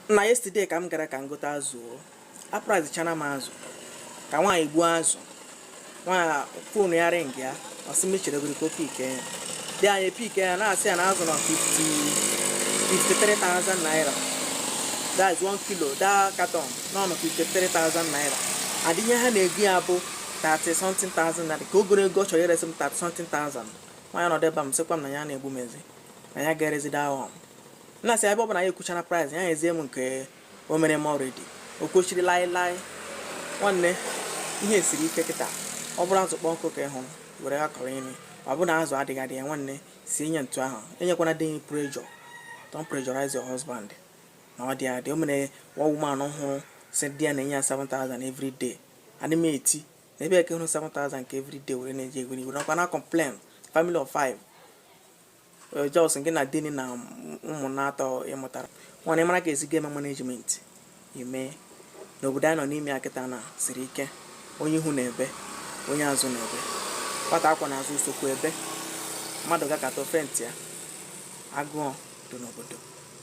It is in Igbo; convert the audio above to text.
nna yesterday ka m gara ka m gote azụ o apricechana m azụ ka nwaanyị gbuo azụ nwaanyị fonu ya ringịa ọ sị m cheregodi ka o pike ya the nwaanyị pike ya na-asị ya na azụ nọ 50 53,000 naira that is 1 kilo that carton nọ na 53,000 naira and ihe ha na-ego ya bụ 30 something thousand naira ka o goro nke ọ chọrọ iresi m 30 something thousand nwaanyị nọdụ ebe a m sịkwa m na ya na-egbu m ezi na ya ga-erezi that one nna sị ebe ọ bụ na ya ekwuchana price ya ezie m nke o mere m already o kwechiri lai lai nwanne ihe siri ike kịta ọ bụrụ azụ kpọọ nkụ ka ị hụrụ were ya kọrọ imi ọ bụrụ na azụ adịghị adị ya nwanne sinye etu ahụ enyekwana di gị pressure don't pressurize your husband na ọ dị adị o nwere one woman hụrụ sị di ya na-enye ya 7000 every day adị m eti na ebe ị ka hụrụ 7000 nke every day were na-eji egweri ị ga-anọkwa na complain family of five Eh, just ngị na di gị na ụmụ na atọ ị mụtara nwanne ị mara ka esi ga-eme management ị ma na obodo anyị nọ n'ime ya kịta na siri ike onye ihu na-ebe onye azụ na-ebe nwata a kwọ n'azụ esokwu ebe mmadụ gakata ọ faintịa agụọ dị n'obodo